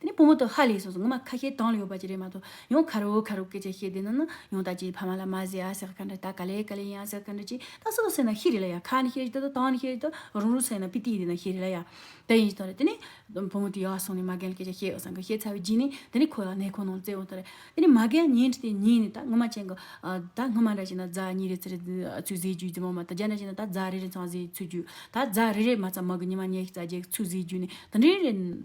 དེ་ནི་བུ་མོ་དང་ཧ་ལས་སོང་སོང་ངོ་མ་ཁ་ཤས་དྭངས་ལ་ཡོད་པ་ཅི་རེད་མ་གཏོགས་ཡང་ཁ་རུག་ཁ་རུག་སྐད་ཆ་བཤད་བསྡད་ན་ན་ཡང་ད་ཅིའི་ཕ་མ་ལ་མ་ཟེར་ཡ་ཟེར་ག་འདྲ་ད་ག་ལས་ག་ལས་ཡིན་ཡ་ཟེར་ག་འདྲ་ཅི་ད་སུ་དང་ཟེར་ན་ཤི་རེད་ལ་ཡ་ཁ་ནི་ཤི་རེད་ད་དང་ནི་ཤི་རེད་ད་རུང་རུང་ཟེར་ན་པི་ཏི་ཡིན་འདི་ན་ཤི་རེད་ལ་ཡ་ད་ཡིན་ཟེར་ཏེ་ནི་བུ་མོ་དེ་ཡར་སོང་ནས་མ་རྒན་ལ་སྐད་ཆ་བཤད་ཡོད་སམ་ག་བཤད་ཚར་བའི་རྗེས་ནས་དེ་ནི་ཁོ་ལ་ནད་ཁོག་ནང་བཙིར་འོང་ས་རེད་དེ་ནི་མ་རྒན་ཉིན་གཅིག་དེ་ཉིན་ནས་ད་སྔོན་མ་ཅན་གྱི་ད་སྔོན་མ་འདྲ་བྱས་ན་རྫ་གཉིས་རེ་ཚུར་ཚུར་བཟས་རྒྱུའི་རྫི་མ་མ་ད་རྒྱ་འདྲ་བྱས་ན་ད་རྫ་རེ་རེ་ཚང་བཟས་ཚུར་རྒྱུའི་ད་རྫ་རེ་རེ་མ་ཚང་མ་གི་ཉི་མ་ཉལ་ཞིག་རྫ་རྒྱག་ཚུར་བཟས་རྒྱུའི་ནི་ད་འདྲའི་རེད།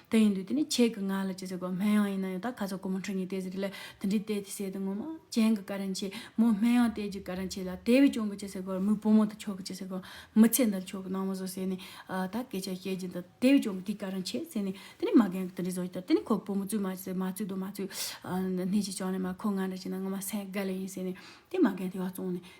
དེ་ཡིན་དུས་དེ་ནི་ཁྱེད་ཀྱི་ང་ལ་ཅི་ཟེར་དགོས་སྨན་ཡང་ཡིན་ན་ཡང་ད་ག་ཚོད་ཀོ་མོ་འཁྲུ་ཉེ་དེ་ཟེར་ལས་དེ་འདྲའི་ལྟས་དེ་བསད་དུ་ངོ་མ་གྱེན་གྱི་ཀ་རན་ཆེ་མོ་སྨན་ཡང་ལྟས་ཀྱི་ཀ་རན་ཆེ་ལ་དེ་བས་གྱོང་གི་ཅི་ཟེར་དགོས་མོའི་བུ་མོ་དང་ཁྱོད་ཀྱི་ཅི་ཟེར་དགོས་མི་ཚེ་འདིར་ཁྱོད་ཀྱི་ནང་མི་བཟོ་བསད་ནས་ད་སྐད་ཆ་བཤད་ཀྱིན་དུ་དེ་བས་གྱོང་གི་དེ་ཀ་རན་ཆེ་ཟེར་ནས་དེ་ནི་མ་རྒན་གྱི་དེ་འདྲའི་བཟོ་ཡི་དོ་དེ་ནི་ཁོའི་བུ་མོ་བཙུད་མ་བཙུད་མ་བཙུད་དོ་མ་བཙུད་སྣེ་གཅིག་བྱང་ནས་མ་ཁོ་ང་འདྲ་བྱས་ན་ངོ་མ་སེང་གེ་ལས་ཡིན་ཟེར་ནས་དེ་མ་རྒན་དེ་བ་བཙོང་ནས་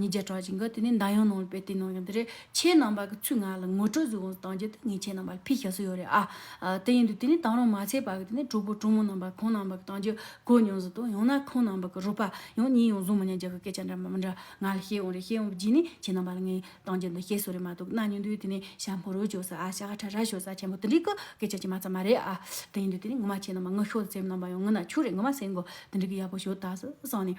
ཉིས་བརྒྱ་གྲངས་ཅན་གྱི་དེ་ནས་མདའ་ཡང་ནང་ལ་སྤེལ་ཏེ་ནང་ཡང་དེ་རེད་ཁྱེད་རྣམ་པ་གི་ཚུལ་ངག་ལ་ངོ་སྤྲོད་གཟུགས་དབང་གཏང་རྒྱུ་དེ་ངས་ཁྱེད་རྣམ་པ་ལ་ཕིས་ཞབས་སུ་ཡོད་རེད་ཨ། དེ་ཡིན་དུས་དེ་ནས་དང་རུང་མ་ཚད་པ་གི་དེ་ནས་གྲོགས་པོ་གྲོགས་མོ་རྣམ་པ་ཁོང་རྣམ་པ་གི་གཏང་རྒྱུ་གོ་མྱོང་ཟིན་ཏོ་ཡང་ན་ཁོང་རྣམ་པ་གི་རུ་པ་ཡང་གཉིས་ཡང་བཟུང་མི་ཉན་རྒྱུ་གི་སྐད་ཆ་འདྲ་མི་འདྲ་ང་ལ་བཤད་ཡོང་རེད་བཤད་ཡོང་གི་རྗེས་ནས་ཁྱེད་རྣམ་པ་ལ་ངས་གཏང་རྒྱུ་འདི་བཤད་སྲོལ་རེད་མ་གཏོགས་གི་ན་ཉོན་དུས་དེ་ནས་ཤ་མོ་རོ་ཞོ་ཟ་ཨ་ཤ་ཧ་ཁྲ་ར་ཞོ་ཟ་ཆེན་པོ་དེ་འདྲི་གི་སྐད་ཆ་ཅི་མ་རྩ་མ་རེད་ཨ། དེ་ཡིན་དུས་དེ་ནས་ངུ་མ་ཁྱེད་རྣམ་པ་ངུ་ཤོག་དེ་སེམས་རྣམ་པ་ཡང་ངུ་ན་ཆུག་རེད་ངུ་མ་སེམས་གོ་དེ་འདྲི་གི་ཡག་པོ་ཞོ་ད་ཟུ་བསམ་ནས་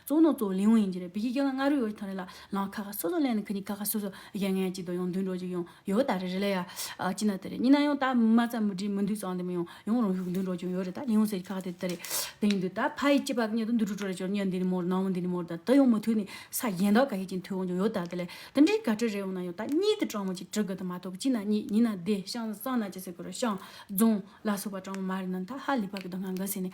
གཙོ་བོ་ནོར་གཙོ་བོ་ལིའུ་ཡིན་གྱི་རེད་བི་ཁི་ཁྱོད་ལ་སྔ་རོལ་ཡོ་ཆི་ཐང་རེ་ལ་ལང་ཁ་ཁ་སོ་སོ་ལེན་ནི་ཁི་ནི་ཁ་ཁ་སོ་སོ་གཞན་ངན་གཅིག་དང་ཡང་མདུན་གྲོགས་གཅིག་ཡང་ཡོ་ད་རེད་རེ་ལ་ཡ་ཅི་ན་ད་རེད་གཉིས་ན་ཡང་ད་མ་ཚ་མི་དྲི་མི་འདུས་ཙང་དེ་མི་ཡོང་ཡང་རང་ཤུགས་མདུན་གྲོགས་གཅིག་ཡོ་རེད་ད་ལིའུ་ཟེར་གྱི་ཁ་ཁ་དེ་ད་རེད་དེ་ཡིན་དུས་ད་ཕ་ཡི་སྐྱི་པགས་གཉིས་དང་འདུ་འཕྲོ་འཕྲོ་རེ་ཅོར་གཉིད་འདི་ནི་མོ་རེད་ནང་མི་འདི་ནི་མོ་རེད་ད་དེ་ཡང་མི་ཐུག་ནི་ས་གཞན་དག་ག་ཤེད་ཅིང་ཐུག་ཡོང་ཀྱང་ཡོ་ད་དེ་ལས་དེ་འདྲའི་ག་དྲི་རེ་ཡོང་ན་ཡང་ད་གཉིད་དེ་སྤྲང་མོ་གཅིག་དྲི་དགོས་དང་མ་གཏོགས་གཅིག་ན་གཉིད་གཉིས་ན་བདེ་ཤང་སང་ན་ཅི་ཟེར་དགོས་རོ་ཤང་རྫོང་ལ་སོགས་པ་སྤྲང་མོ་མ་རེད་ན་ད་ཧ་ལི་བག་གི་དོན་ང་འགའ་ཟེར་ནས་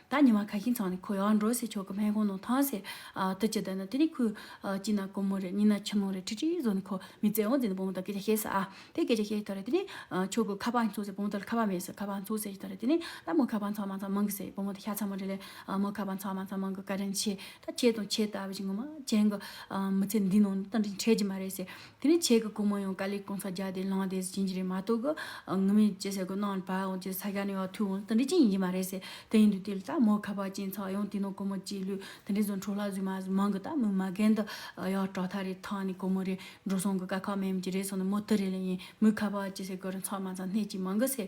ད་ཉི་མ་ག་ཤིང་ཚང་ནས་ཁོ་ཡར་འགྲོ་ཟེར་ཆོག་གི་སྨན་ཁང་ནང་ཐང་ཟེར། དུ་ཅི་བསྡད་ན་དེ་ནི་ཁོའི་སྐྱིད་ན་དཀོན་མོ་རེད་སྙིང་ན་ཆུ་ཀླུང་རེད་ཁྲིད་ཁྲིད་བཟོ་ནས་ཁོ་མི་བཙལ་འོང་ཟེར་ནས་བུ་མོ་དང་སྐད་ཆ་བཤད་ས། དེ་སྐད་ཆ་བཤད་ཐོག་རེད་དེ་ནི། ཁྱོད་ཀྱི་ཁ་པར་འཚོལ་ཟེར་བུ་མོ་དེ་ལ་ཁ་པར་མེད་ཟེར་ཁ་པར་འཚོལ་ཟེར་བྱས་ཐོག་རེད་དེ་ནི། ད་མོ་ཁ་པར་འཚོལ་མ་ཚང་མང་གི་ཟེར་བུ་མོ་དེ་ཤ་ཚ་མོ་རེད་ལས། མོ་ཁ་པར་འཚོལ་མ་ཚང་མང་གི་བཀའ་དྲིན་ཆེ། ད་ཁྱེད་དང་ཁྱེད་ལྟ་བུ་ཅན་གྱི་མི་ཚེ་འདི་ནང་ནས་བཀའ་དྲིན་ཆེ་གི་མ་རེད་ཟེར། དེ་ནས་ཆེད་ཀྱི་གོང་མ་ཡང་ཀ་ལིས་གང་ས་རྒྱ་དེ་ལངས་ཏེ་ཟིན་གྱི་རེད་མ་གཏོགས་ཀྱི་ངུ་མི་ཅི་ཟེར་གི་གནང་ལ་བར་འོང་ཅི་ས་རྒྱ་ནས་བ་ཐུག་འོང་ད་འདི་ཅི་ཡིན་གྱི་མ་རེད་ཟེར་དེ་ཡིན་དུས་དེ་ལ་ད་མོ་ཁ་བ་ཅན་ཚ་བ་ཡང་དེ་ནང་གོང་མོ་གཅིག་ལུས་དེ་འདྲས་བཟོ་འཕྲོ་ལ་བཟོས་མ་བཟོས་མང་གི་ད་མོ་མ་རྒན་འདི་ཡག་སྐྲག་ཐག་རེད་ཐང་ནས་གོང་མོ་རེད་འགྲོ་སོང་གི་དཀའ་ཁག་མེད་མི་ཀྱི་རེད་སོང་ནས་མོ་དི་རེད་ལ་ཡིན་མོའི་ཁ་བ་ཅི་ཟེར་གི་རེད་ཚང་མ་ཚང་སྣེ་གཅིག་མང་གི་ཟེར།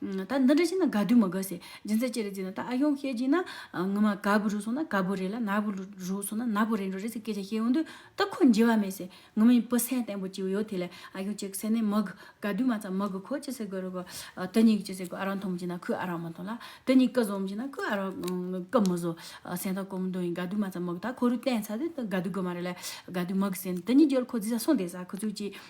ད་འདི་འདྲ་བྱས་ན་དགའ་དུས་མ་དགའ་ཟེར་སྦྱིན་སྲེག་ཅི་རེད་ཟེར་ན་ད་ཨ་ཡོང་ཤེས་ཀྱིན་ན་ངོ་མ་དགའ་བོ་རུ་སོང་ན་དགའ་བོ་རེད་ལ་ནག་པོ་རུ་སོང་ན་ནག་པོ་རེད་འགྲོ་རེད་ཟེར་སྐད་ཆ་བཤད་འོང་དུས་ད་ཁོ་འཇིགས་བ་མེད་ཟེར་ངོ་མ་ཡིན་བུ་སེམས་བརྟན་པོ་བྱེད་པོ་ཡོད་དེ་ལས་ཨ་ཡོང་ཅིག་ཟེར་ནས་མ་དགའ་དགའ་དུས་མ་ཚང་མ་དགའ་ཁོ་ཅི་ཟེར་དགོས་རུ་གོ་དེ་གཉིས་ཀྱི་ཅི་ཟེར་དགོས་ཨ་རང་མཐོང་མི་ཅིག་ན་ཁོས་ཨ་རང་མ་མཐོང་ལ་དེ་གཉིས་སྐད་བཟོ་མི་ཅིག་ན་ཁོས་ཨ་རང་སྐད་མ་བཟོ་སེམས་ཐག་གོམ་མདུན་ཡིན་དགའ་དུས་མ་ཚང་མ་དགའ་ད་ཁོ་རུ་བསྟན་ཚར་དུས་དགའ་དུས་དགོས་མ་རེད་ལས་དགའ་དུས་མ་དགའ་ཟེར་ནས་དེ་གཉིས་རྒྱུ་ལ་ཁོ་རྫི་ས་སོང་བསྡད་ས་ཁོ་ཚོས་ཅི་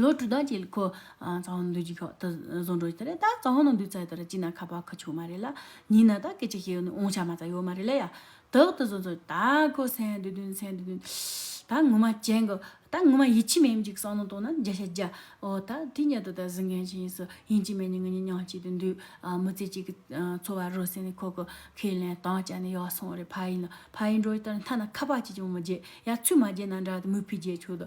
ལོ་དྲུག་དང་བཅས་ལ་ཁོ། རྩ་བ་ནང་འདུས་ཀྱི་ཁག་ཏུ་བཟོ་འགྲོ་ཡི་རེད་ད། རྩ་བ་ནང་འདུས་རྩ་དེ་ར་ཅི་ན་ཁ་བ་ཁུ་ཆུང་མ་རེད་ལ། ཉིན་ན་ད་སྐད་ཅིག་ཤེས་ཡོན་ནི་འོང་ཆ་མ་རྩ་ཡོད་མ་རེད་ལ་ཡ། དག་ཏུ་བཟོ་འདྲོ་ད་ཁོ་སེང་དུ་དུན་སེང་དུ་དུན། ད་ངོ་མ་ཅན་གི། ད་ངོ་མ་ཡིད་ཆེས་མེད་འཇིག་སང་ལོ་དང་ན་འཇའ་ཤ་འཇའ། འོ་ད་དེ་གཉེར་དུ་ད་གཟི་མཁན་ཆེན་ཡིན་སུ་ཡིན་གཅིག་མེད་གཉིས་ངེད་གཉིས་མྱང་གཅིག་ཏུ་འདུས། མི་ཚེ་གཅིག་གི་འཚོ་བ་རོལ་སེང་ནི་ཁོ་གི་ཁས་ལེན་དྭངས་བཅའ་ནི་ཡག་སོང་བ་རེད་ཕ་ཡིན་ན་ཕ་ཡིན་འགྲོ་ཡི་ལྟར་མཐའ་ན་ཁ་བ་ཅིས་ཀྱང་མི་བརྗེད་ཡ་ཚུལ་མ་བརྗེད་ན་འདྲ་སྟེ་མུས་ཕུས་བརྗེད་ཆོག་དུ་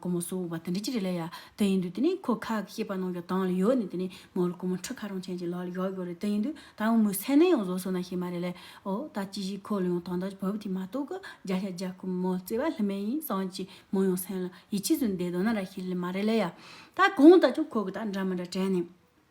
ཀོ་མོ་སོ་བ་དེ་འདྲ་ཅི་རེད་ལ་ཡ། དེ་ཡིན་དུས་དེ་ནས་ཁོ་ཁག་གི་སྐྱེས་པ་ནང་གི་དང་ལ་ཡོད་ནས་དེ་ནས་མོ་ལ་ཀོ་མོ་འཁྲུ་ཁ་རང་ཆེན་གྱི་ལག་ལ་གཡོག་གི་རེད་དེ་ཡིན་དུས་ད་ཡང་མོའི་སེམས་ནས་ཡང་བཟོ་སོང་ན་ཤེས་མ་རེད་ལས་ཨོ་ད་ཅི་ཞིག་ཁོ་ལ་ཡང་དང་དག་བོད་དེ་མ་གཏོགས་གི་རྒྱ་ཤ་རྒྱ་ཁོ་མོ་བརྩེ་བ་ལྷི་མེད་ཡིན་སངས་ཀྱི་མོ་ཡང་སེམས་ལ་ཡིད་ཆེས་བཟོས་འདེད་དོ་ན་ར་ཤི་ལི་མ་རེད་ལ་ཡ། ད་གང་ལྟ་ཀྱང་ཁོ་གི་ད་འདྲ་མི་འདྲ་དྲན་ནས།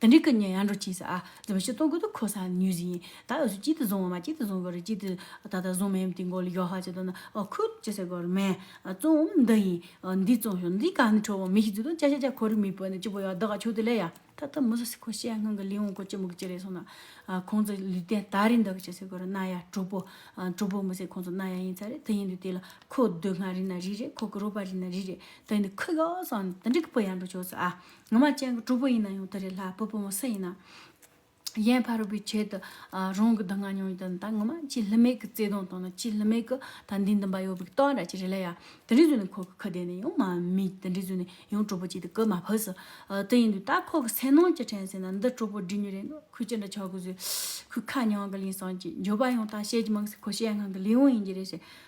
དེ་འདྲའི་སྐུ་མཉེ་ཡང་འགྲོ་ཅི་ཟ། འཛིན་པ་ཆུ་སྟོང་གུད་དུ་འཁོར་སངས་ནུས་ཟིན། ད་ཡོད་ཚུལ་གཅིག་ཏུ་བཟུང་བ་མ་གཅིག་ཏུ་བཟུང་གོ་རེ་གཅིག་ཏུ། ད་ལྟ་བཟུང་མེད་དེ་མགོ་ལ་ཡོག་ཧ་བྱེད་དོ་ན། ཁུག་ཅི་ཟེར་གོ་རེ་མེད། བཙོང་འོམ་འདི་ཡིན། འདི་བཙོང་ཞོག་འདི་གང་ནས་འཕྲོ་བོ་མི་ཞིག་བཙུད་དོ་ཅ་ཅ་ཅ་ཁོ་རེ་མི་བོས་ནས་གཅིག་པོ་ཡག་འདི་ག་ཆུ་དེ་ལས་ཡག། ད་ལྟ་མི་ཟ་སི་ཁོ་ཤེས་ཡ་སྔོན་གི་ལིའི་འོང་གོ་ཅི་མོ་གི་ཅི་རེད་སོང་ན། ཁོང་ཚོ་ལུས་རྟེན་ད་རེད་འདི་ག་ཅི་ཟེར་གོ་རེ་རྣ་ཡ་གྲུག་པོ། གྲུག་པོ་མི་ཟེར་ཁོང་ཚོ་རྣ་ཡ་ཡིན་ཚ་རེད་དེ་ཡིན་དུས་དེ་ལ་ཁོ་སྡུག་བསྔལ་རིག་ན་རིག་རེད་ཁོ་ཀི་རོ་པ་རིག་ན་རིག་རེད་དེ་ཡིན་དུས་ཁུག་ཡོག་སངས་ནས་དེ་འདྲའི་སྐུ་བོ་ཡང་འགྲོ་ཆོག་ཟ། ངོ་མ་སྤྱན་གྱི་གྲོགས་པོ་ཡིན་ན་ཡང་དེ་རེད་ལྷ་བུ་བུ་མོ་སུ་ཡིན་ནའང། ཡན་ཕ་རོལ་པོའི་ཆེད་དུ་རང་གི་སྡུག་བསྔལ་མྱོང་ཡོད་ད་ངོ་མ་ཅི་ལྷི་མེད་གི་བརྩེ་དུང་དང་ན་ཅི་ལྷི་མེད་གི་ད་འདི་འདི་འབའ་ཡོད་པའི་གཏོང་ར་ཅི་རེད་ལ་ཡ། དེ་འདྲའི་བཟོས་ནས་ཁོ་གི་ཁུ་བསྡད་ནས་ཡང་མ་མིག་དེ་འདྲའི་བཟོས་ནས་ཡང་གྲོགས་པོ་ཅིག་དེ་གོ་མ་ཕོད་ཟེར། དེ་ཡིན་དུས་ད་ཁོ་གི་སེམས་ནང་ཅི་དྲན་ཟེར་ན་འདི་གྲོགས་པོ་འདྲི་ཉོ་རེད་འདུག་ཁོས་ཅི་འདྲ་བྱ་དགོས་ཟེར། ཁོས་ཁ་མྱང་གི་གླིང་བསང་ཅིག་འབྱོར་པ་ཡང་ད་བཤད་ཀྱི་མང་གསེས་ཁོ་བཤད་ངང་གི་ལས་དབང་ཡིན་གྱི་རེད་ཟེར།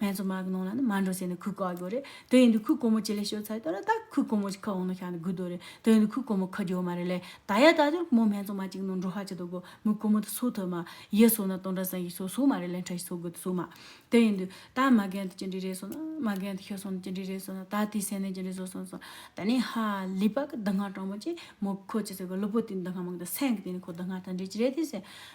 ངས་ཚོ་མ་གི་ནང་ལ་ནི་མ་འགྲོ་ཟེར་ནས་ཁུག་ག་གོ་རེད་དེ་ཡིན་དུ་ཁུག་གོ་མོ་ཅི་ལས་ཤོད་ཚ་ཡོད་ད་ར་ད་ཁུག་གོ་མོ་ཅི་ཁ་འོང་ནོ་ཤག་ནི་གུ་དོ་རེད་དེ་ཡིན་དུ་ཁུག་གོ་མོ་ཁ་རྒྱོ་མ་རེད་ལས་ད་ཡ་ད་ཅོར་མོ་སྨད་ཚོ་མ་ཅིག་ནང་འགྲོ་ཧ་ཅི་དོ་གོ་མོ་གོ་མོ་དུ་སོ་ཐོས་མ་ཡེ་སོ་ན་སྟོང་དྲ་སང་ཞིག་སོ་སོ་མ་རེད་ལན་ཁྲ་ཞིག་སོ་གོ་དུ་སོ་མ་དེ་ཡིན་དུ་ད་མ་གན་དུ་ཅི་འདྲི་རེད་སོ་ན་མ་གན་དུ་ཤོད་སོང་ནི་ཅི་འདྲི་རེད་སོ་ན་ད་དེ་སེ་ནས་ཅི་འདྲི་བཟོ་སོང་སོ་ད་ནི་ཧ་ལི་པ་གི་ད་སྔ་དྲང་མོ་ཅི་མོ་ཁོ་ཅི་ཟེར་གོ་ལུ་པོ་དེ་ནི་ད་སྔ་མང་ད་སེང་གི་དེ་ནི་ཁོ་ད་སྔ་ད་འདྲི་ཅི་རེད་དེ་ཟེར་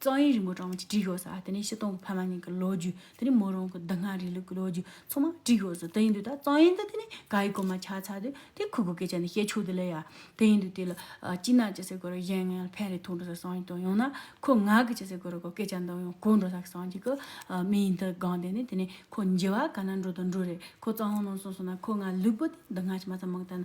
གཙང་ཡིག་རིན་པོ་གྲངས་མེད་ཀྱི་བྲིས་ཤོག་ཟ་དེ་ནས་ཕྱི་སྟོང་གི་ཕ་མ་གཉིས་ཀྱི་ལོ་རྒྱུས་དེ་ནས་མོ་རང་གི་སྡུག་བསྔལ་རིང་ལུགས་ཀྱི་ལོ་རྒྱུས་ཚང་མ་བྲིས་ཤོག་ཟ་དེ་ཡིན་དུས་ད་གཙང་ཡིག་འདི་དེ་ནས་ག་ཡིག་གོ་མ་ཆག་ཆག་དུས་དེ་ཁུ་གུ་སྐད་ཆ་འདི་བཤད་ཆོག་དུས་ལས་ཡ་དེ་ཡིན་དུས་དེ་ལ་སྐྱིད་ན་ཅི་ཟེར་དགོས་ར་གཞན་ངན་ལ་ཕན་རེ་ཐོག་འགྲོ་ས་སངས་ཀྱིས་དང་ཡང་ན་ཁོ་ང་གི་ཅི་ཟེར་དགོས་ར་གོ་སྐད་ཆ་འདི་ཡང་གོ་འགྲོ་ས་གི་སངས་ཀྱིས་ཀྱི་མི་ཡིན་དུ་སྒང་དེ་ནས་དེ་ནས་ཁོ་འཇི་བ་ག་ན་འགྲོ་དུ་འགྲོ་རེ་ཁོ་གཙང་ཧོན་ནང་སོང་སོང་ན་ཁོ་ང་ལུས་པོ་དེ་འདི་སྔ་ཕྱི་མ་ཚང་མང་དང་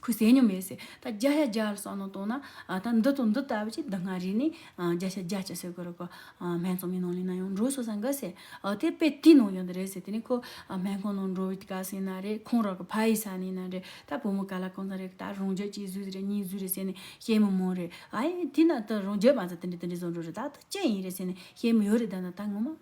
ཁོས་ཟས་ཉོ་མེད་ཟེར། ད་བརྒྱ་ཆ་བརྒྱ་ལ་གསོག་ནང་བཏོན་ན། ད་འདི་ཙོ་འདི་ལྟ་བུ་ཅིག་འདི་སྔ་རེས་ནས་བརྒྱ་ཆ་བརྒྱ་བརྒྱ་ཟོས་དགོས་རོགས་གོ། སྨན་ཙོང་མའི་ནང་ལས་ན་ཡང་འགྲོ་ཟོས་སང་གི་ཟེར། དེ་དཔེ་དེའི་ནང་ཡོད་འདི་རེད་ཟེར་དེ་ནས་ཁོ་སྨན་ཁང་ནང་འགྲོ་བའི་དཀའ་སེང་ན་རེ་ཁོང་རང་གི་ཕ་ཡི་ས་ནས་ན་རེ་ད་བུ་མོ་ག་ལ་གང་ཙམ་རེ་ད་རང་བརྒྱུད་གཅིག་བཟོས་རེ་གཉིས་བཟོས་རེ་ཟེར་ནས་བཤད་མི་མང་རེ་ཨ་ཡེ་དེ་ན་ད་རང་བརྒྱུད་མ་ཟོས་དེ་འདྲ་དེ་འདྲ་བཟོ་འགྲོ་རེ་ད་ད་ཅི་ཡིན་རེ་ཟེར་ནས་བཤད་མི་ཡོད་རེ་ད་ན་ད་ངོ་མ།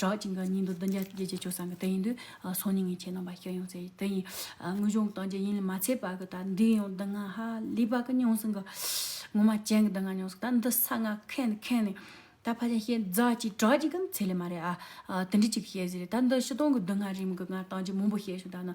གྲགས་ཅན་གྱི་ཉིན་དུ་བདུན་བརྒྱ་བརྒྱད་བརྒྱ་བྱོ་སངས་ཀྱི་དེ་ཡིན་དུས་སོ་ཉིན་ངས་ཁྱེད་རྣམ་པ་སྐྱོ་ཡོང་ཟེར་དེ་ཡིན་དངོས་བྱུང་གི་སྟངས་ཀྱི་ཡིན་ལས་མ་ཚད་པ་གི་ད་འདི་ཡང་བདུན་ང་ཧ་ལས་པ་གི་མྱོང་སོང་གི་ངོ་མ་ཅན་གྱི་བདུན་ང་མྱོང་སོང་ད་འདི་ས་ང་ཁེན་ནི་ཁེན་ནི་ད་ཕ་ཅན་ཤེས་རྫ་ཅིག་གྲགས་ཅན་གྱི་ཚད་ལས་མ་རེད་ཨ་དེ་འདྲི་ཅིག་ཤེས་ཟེར་རེད་ད་འདི་ཕྱི་སྟོང་གི་བདུན་ང་རིམ་གྱི་ང་སྟངས་ཀྱི་མང་པོ་ཤེས་བྱུང་ད་ནི་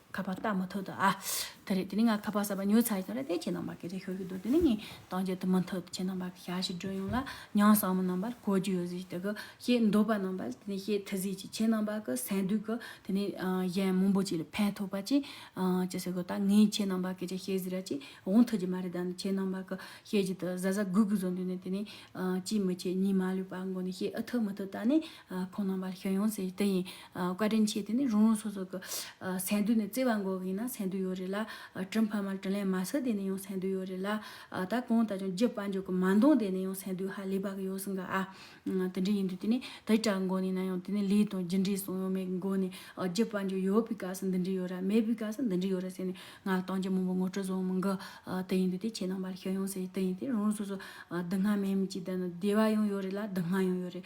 ཁ་པར་བལྟ་མ་ཐུབ་ད་ཨ། དེ་རེད་དེ་ནི་ང་ཁ་པར་གསར་པ་ཉོས་ཚར་ཡིན་རེད་དེ་ཁྱེད་རྣམ་པར་སྐད་ཆ་ཤོད་ཀྱི་འདུག་དེ་ནི་ངས་དང་བཅས་ཐུབ་མ་ཐུབ་དེ་ཁྱེད་རྣམ་པར་ཞལ་ཞིག་སྒྲོན་ཡོང་ལ་ཉང་བསང་མོ་རྣམ་པར་གོ་རྒྱུ་ཡོད་ཟིག་དེ་གི་ཞེས་འདོད་པ་རྣམ་པར་དེ་ནི་ཞེས་ཐི་ཟིག་ཅིག་ཁྱེད་རྣམ་པ་གི་སེམས་སྡུག་གི་དེ་ནི་གཞན་མང་པོ་ཅིག་ལ་ཕན་ཐོགས་པ་ཅིག་ཅི་ཟེར་དགོས་ད་ངས་ཁྱེད་རྣམ་པར་སྐད་ཆ་བཤད་ཟིག་ར་ཅིག་འོང་ཐུབ་ཀྱི་མ་རེད་ད་ནི་ཁྱེད་རྣམ་པ་གི་ཞལ་གྱི་དུ་གཟའ་གཟའ་གུག་གུག་བཟོ་འདོད་ནས་དེ་ནི་གཅིག་མི་བྱེད་གཉིས་མ་ལུས་པ་མགོ་ནས་བཤད་ཨི་ཐུབ་མི་ཐུབ་ད་ནི་ཁོང་རྣམ་པ་ཞོན་ཡོང་ཟེར་དེ་ཡིན། བཀའ་དྲིན་ཆེ་དེ་ནི་རུང་རུང་སོ་སོ་གི། སེང་རྡུལ་ནི་བརྩེ་བ་འགོག་གིན་ན་སེང་རྡུལ་ཡོད་རེད་ལ། དྲིན་ཕ་མར་དྲིན་ལན་མ་ཟེར་དེ་ནི་ཡང་སེང་རྡུལ་ཡོད་རེད་ལ། ད་གང་ལྟ་ཀྱང་རྒྱུད་དཔལ་འབྱོར་གྱི་མ་འདང་དེ་ནི་ཡང་སེང་རྡུལ་ཧ་ལས་པ་གི་ཡོད་སྲིད་ག་ཨ། དེ་འདྲའི་ཡིན་དུས་དེ་ནི་དེ་དྲག་འགོག་ནས་ན་ཡང་དེ་ནི་ལས་དང་རྒྱུ་འབྲས་སྲུང་ཡོང་མེད་གི་འགོ་ནས་རྒྱུད་དཔལ་འབྱོར་ཡོད་པའི་སྐབས་སུ་འདི་འདྲའི་ཡོད་ར་མེད་པའི་སྐབས་སུ་འདི་འདྲའི་ཡོད་ར་ཟེར་ནས་ང་ལ་གཏང་རྒྱུ་མང་པོ་ངོ་སྤྲོད་བཟང་མི་འགི། དེ་ཡིན་དུས་དེ་ཁྱེད་རྣམ་པ་ཞོན་ཡོང་ཟེར་དེ་ཡིན་དེ་རུང་རུང་སོ་སོ། སྡུག་བསྔལ་མེད་མི་གཅིག་དང་ན་བདེ་བ་ཡང་ཡོད་རེད་ལ་སྡུག་བསྔལ་ཡང་ཡོད་རེད།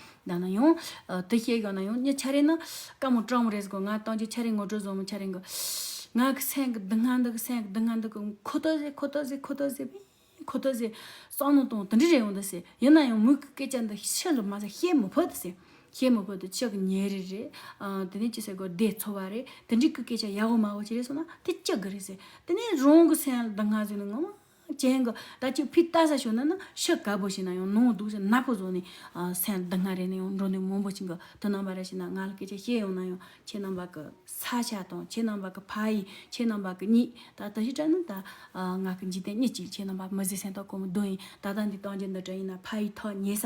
ད་ནང་ཡོང། དེ་བཤད་ཡོང་ནང་ཡོང། ངས་ཆ་རེ་ན། དཀའ་མོ་སྤྲང་མོ་རེ་ཟིག་གོ། ང་གཏང་རྒྱུ་ཆ་རེ་ངོ་སྤྲོད་བཟང་མོ་ཆ་རེ་གོ། ང་གི་སེམས་ཀྱི་སྡུག་བསྔལ་འདི་གི་སེམས་ཀྱི་སྡུག་བསྔལ་འདི་གི་ཁོ་ཐག་ཟིག་ཁོ་ཐག་ཟིག་ཁོ་ཐག་ཟིག་བེ། ཁོ་ཐག་ཟིག། སང་ནང་དང་དེ་འདྲ་རེ་ཡོང་དུ་སེ། ཡིན་ནང་ཡོང་མོས་གི་སྐད་ཆ་འདི་ཤེས་ལུགས་མ་ཟད་ཤེས་མི་ཕོད་དུ་སེ། ཤེས་མི་ཕོད་དུ་ཅག་གི་ཉེ་རེ་རེ། དེ་ནས་ཅི་ཟེར་གོ་བདེ་འཚོ་བ་རེ། དེ་འདྲི་གི་སྐད་ཆ་ཡག་གོ་མ་གོ་ཅི་རེ་སོང་ན་དེ་ཅག་གི་རེ་སེ། དེ་ནས་རང་གི་སེམས་ལ་སྡུག་བསྔལ་ཟིག་ནི་ངོ་མ་ཅན་གྱི་ད་ཅིག་ཕུད་བལྟ་ས་ཤོར་ན་ནི་ཤི་དཀའ་བོ་ཞིག་ན་ཡང་ནོངས་འདུག་ཟེར་ནག་པོ་བཟོ་ནས་སེམས་སྡུག་བསྔལ་རེ་ནས་ཡང་འགྲོ་འདོད་མང་པོ་ཞིག་གི་དུ་སྣང་བ་རེ་ཞིག་ན་ང་ལ་སྐད་ཆ་བཤད་ཡོང་ན་ཡང་ཁྱེད་རྣམ་པ་གི་ས་ཆ་དང་ཁྱེད་རྣམ་པ་གི་ཕ་ཡིས་ཁྱེད་རྣམ་པ་གི་མྱིས་ད་ད་ཞིག་དྲན་ན་ད་ང་གི་འཇིག་རྟེན་གཉིས་ཅིག་ཁྱེད་རྣམ་པ་མི་བཟི་སེམས་ཐག་གོ་མི་བདུན་ཡིན་ད་ལྟ་འདི་གཏང་རྒྱུ་འདི་དྲན་ཡིན་ན་ཕ་ཡིས་ཐག་ཉེ་ས་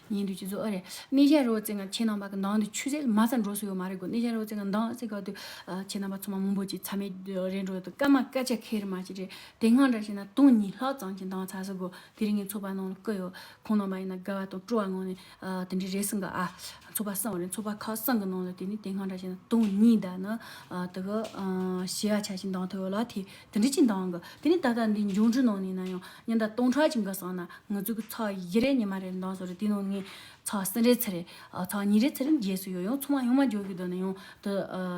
ཉིན་དེའི་སྤྱི་ཚོགས་ཨ་རེ་ནེ་ཞའི་རོ་རྩེད་ངང་ཁྱེད་རྣམ་པ་གི་མདང་དུ་ཆུ་ཚད་དམའ་ས་འགྲོ་སྲིད་ཡོད་མ་རེད་གོ་ནེ་ཞའི་རོ་རྩེད་ངང་མདང་རྩེད་སྐབས་དུས་ཁྱེད་རྣམ་པ་ཚང་མ་མུན་པོ་གཅིག་ཚ་མེད་རེད་འགྲོ་དུས་སྐར་མ་སྐར་ཆ་ཁེར་མ་གཅིག་རེད་དེ་སྔར་འདྲ་ཞིག་ན་སྟོང་གཉིས་ལྷག་ཙམ་གྱི་མདང་ཚ་ས་གོ་དེ་རིང་ངས་ཚོགས་པ་ནང་ལ་བསྐོས་ཡོད་ཁོང་རྣམ་པ་ཡིན་ན་དགའ་བ་དང་སྤྲོ་བ་ངང་ནས་དེ་འདྲའི་རེ་ཟུང་གི་ཨ་ཚོགས་པ་བསང་བ་རེད་ཚོགས་པ་ཁག་བསང་གི་ནང་ལ་དེ་ནི་དེ་སྔར་འདྲ་ཞིག་ན་སྟོང་གཉིས་འདའ་ན་དེ་ག་ཞི་བ་ཆ་ཞིག་མདང་ཐོ་ཡོད་ལ་དེ་དེ་འདྲ་ཅིག་མདང་གི་དེ་ནི་ད་ལྟ་འདི་འབྱུང་འགྱུར་ནང་ནས་ན་ཡང་ཉིན་ཟླ་སྟོང་ཕྲག་གཅིག་འགའ་སོང་ན་ང་ཚོའི་གི་ཚགས་བཞི་རེ་ཉི་མ་རེ་འདང་སོང་རེ་དེའི་ནང་ནས་ཚགས་གསུམ་རེ་ཚེ་རེ་ཚགས་གཉིས་རེ་ཚེ་རེ་རྒྱས་སུ་ཡོད་ཡང་ཚོང་བ་ཡོང་མ་འཇོག་གི་འདོད་ན་ཡང་དུ་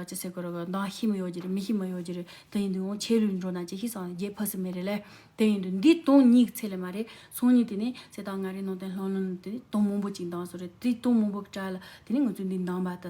ཅི་ཟེར་དགོས་རོགས་འདང་ཤི་མི་ཡོག་གྱི་རེད་མི་ཤི་མི་ཡོག་གྱི་རེད་དེ་ཡིན་དུ་ཡང་ཆད་ལུས་འགྲོ་ན་ཅི་ཤི་སང་རྒྱས་ཕ་སི་མེ་རེད་ལས་དེ་ཡིན་དུ་འདི་སྟོང་གཉིས་ཚེ་ལས་མ་རེད་སང་ཉིན་དེ་ནས་ཚེ་ད་ང་རེ་ནང་བསྟན་ལྷང་ལྷང་ནས་དེ་ནས་སྟོང་མང་པོ་གཅིག་འདང་སོང་རེ་དེའི་སྟོང་མང་པོ་གི་གྲལ་ལ་དེ་ནས་ང་ཚོའི་འདི་འདང་བ་དུ